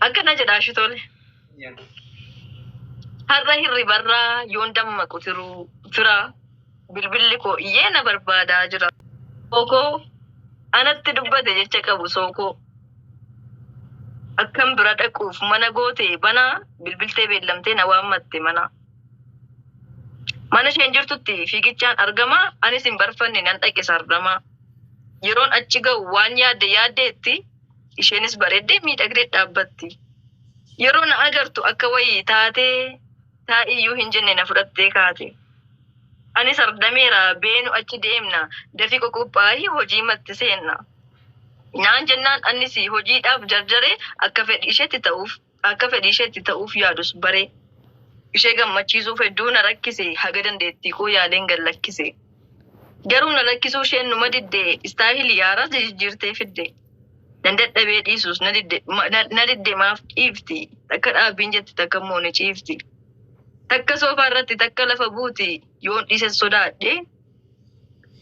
Akkana jedha Ashitoole. Har'a hirribarraa yoon dammaqu tiruu fira bilbilli koo iyyee na barbaadaa jira. Sookoo anatti dubbate jecha qabu sookoo. Akkan bira dhaquuf mana goote banaa bilbiltee beellamtee na waammatte mana. Mana isheen jirtutti fiigichaan argama anis hin barfanne nan dhaqe sardamaa. Yeroon achi ga'u waan yaadde yaaddeetti Isheenis bareeddee miidhagdee dhaabbatti. Yeroo na agartu akka wayii taatee taa'iyyuu hin jenne na fudhattee kaate. Anis ardameera beenu achi deemna dafii qoqophaa'i hojii matti seenna. Naan jennaan annis hojiidhaaf jarjaree akka fedhi isheetti ta'uuf. Akka fedhiisheetti ta'uuf yaadus bare. Ishee gammachiisuuf hedduu na rakkise, haga dandeettiikoo yaaleen gad lakkise. Garuu na lakkisuu isheen numa didde, istaayilii haaraas jijijjiirtee fidde. Nan dadhabee dhiisuus na didde, na didde maaf dhiifti? Takka dhaabbiin jetti takkammoo ni ciifti. Takka soofaa irratti takka lafa buuti, yoon dhiises sodaadhe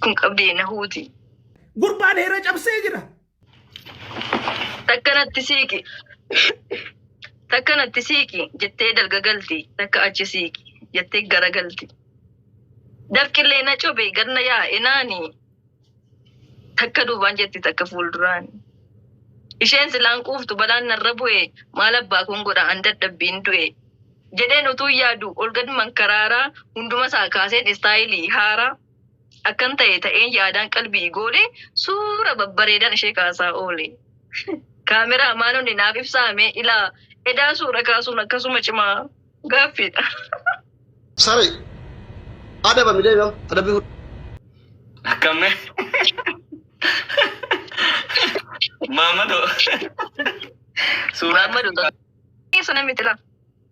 kun qabdee na huuti. Gurbaan heera cabsee jira. Takka natti siiqi. Takka natti siiqi jettee dalga galti. Takka achi siiqi jettee gara galti. Dafqillee na cobe ganna yaa'e naani. Takka duubaan jetti takka fuulduraan. Isheen silaan quuftu balaan narra bu'e maal abbaa kun godha an dadhabbiin du'e. Jedheen utuu yaadu ol gad mankaraaraa hunduma isaa kaaseen istaayilii haaraa. Akkan ta'e ta'een yaadaan qalbii goole suura babbareedan ishee kaasaa oole. Kaameraa maanonni naaf ibsaame ilaa edaa suura kaasuun akkasuma cimaa gaaffiidha. Sare adaba midee gam adabbi fudhu. Akkamme Maammadoo suuraa Maammadu sana miti laa.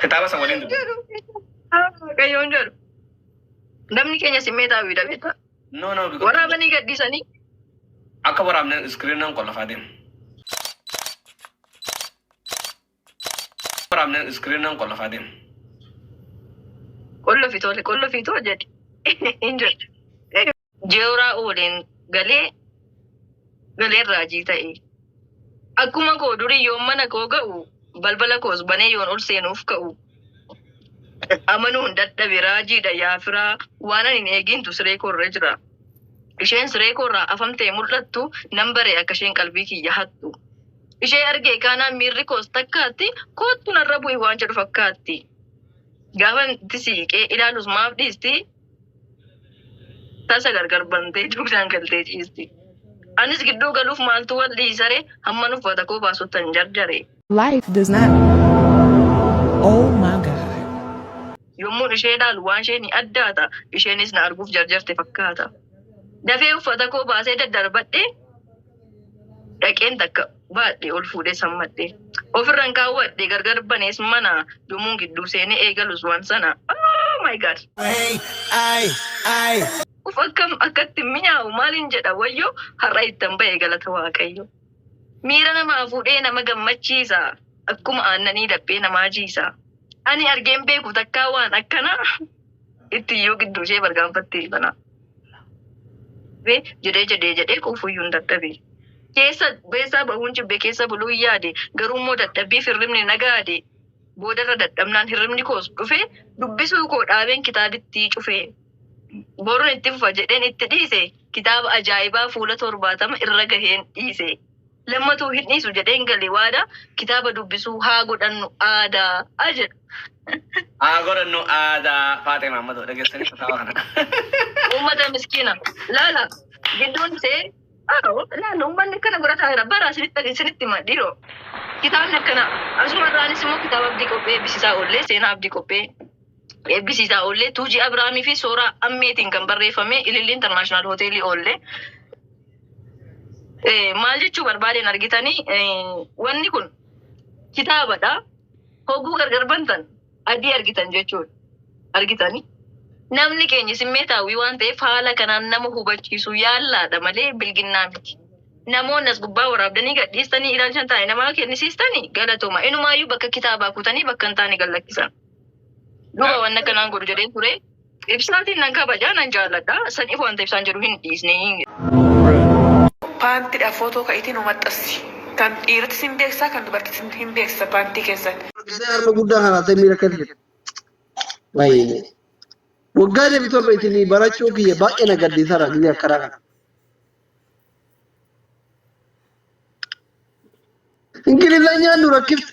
Kitaaba san waliin dubbi. Waaqayyoon jedhu. Namni keenya simmeetaawi dha beektaa. No no because Waraabanii gadhiisanii. akka waraabne iskiriinaan qollafaa deema. Waraabne iskiriinaan qollafaa deema. Qollofi tole qollofi too jedhi. Hin jedhu. jeeraa oodeen galee galeen raajii ta'e. Akkuma koo durii yoon mana koo ga'u balbala koos banee yoon ol seenuuf ka'u amanuu hin dadhabe raajiidha yaa firaa waan ani hin eegintu siree koo irra jira. Isheen siree koo irraa afamtee mul'attu nan bare akka isheen qalbii kiyya hattu. Ishee argee kaanaan miirri koos takkaatti koottu narra bu'i waan jedhu fakkaatti. Gaafan itti siiqee ilaalus maaf dhiisti Tasa gargar bantee dugdaan galtee ciisti. Anis gidduu galuuf maaltu wal dhiisare hamman uffata koo baasuttan jarjare. Life does not. Oh my God. Yommuun ishee ilaalu waan ishee ni addaata. Isheenis na arguuf jarjarte fakkaata. Dafee uffata koo baasee daddarbadhe. dhaqeen takka baadhe ol fuudhee sammadhe ofirran kaawwadhe gargar banees mana yommuun gidduu seenee eegalus waan sana oh my god uf akkam akkatti mi'aawu maaliin jedha wayyoo har'a ittan ba'e galata waaqayyo miira namaa fuudhee nama gammachiisa akkuma aannanii laphee namaa jiisa ani argeen beeku takkaa waan akkanaa itti iyyuu gidduu ishee bargaanfattee banaa jedhee jedhee jedhee quufuyyuu hin dadhabe. Keessa beessaa bahuun jibbe keessa buluun yaade garuu immoo dadhabbiif hirribni na gaade boodarra dadhabnaan hirribni koos dhufe dubbisuu koo dhaabeen kitaabittii cufe boruun itti fufa jedheen itti dhiise kitaaba ajaa'ibaa fuula torbaatama irra gaheen dhiise. Lammatuu hin dhiisu jedheen gale waada kitaaba dubbisuu haa godhannu aadaa a jedhu. Haa godhannu aadaa Faaxee Maammadoo dhageessanii kitaaba kana. Uummata miskiina laala gidduun see Awo, laala uummanni akkana godha taa'eera. Bara isinitti isinitti hima dhiiroo. Kitaabni akkana asuma irraanis immoo kitaaba abdii qophee eebbisiisaa oollee seenaa abdii qophee eebbisiisaa oollee tuujii Abiraamii fi sooraa ammeetiin kan barreeffame ililli intarnaashinaal hoteelii oollee Eh, maal jechuu barbaadeen argitanii eh, wanni kun kitaabadha hogguu gargar bantan adii argitan jechuudha argitanii namni keenya simmeetaawwii waan ta'eef haala kanaan nama hubachiisu yaallaadha malee bilginnaa miti namoonni as gubbaa waraabdanii gadhiistanii ilaalchan taa'e namaa kennisiistanii galatoma inumaayyuu bakka kitaabaa kutanii bakka hin taane gallakkisan duba wanna kanaan godhu jedheen ture Ibsaatiin nan kabaja nan jaalladha. Saniif wanta ibsaan jedhu hin dhiisne. Paantidha footoo ka itii nu maxxassi. Kan dhiirtis hin beeksisa kan dubartis hin beeksisa paantii keessan. Isee harma guddaa kana ta'e miira akka ta'e. Baay'ee. Waggaa deebi torba isinii barachuu kiyya baay'ee na gaddiisara biyya akkanaa kana. Ingilizanyaan nu rakkifte.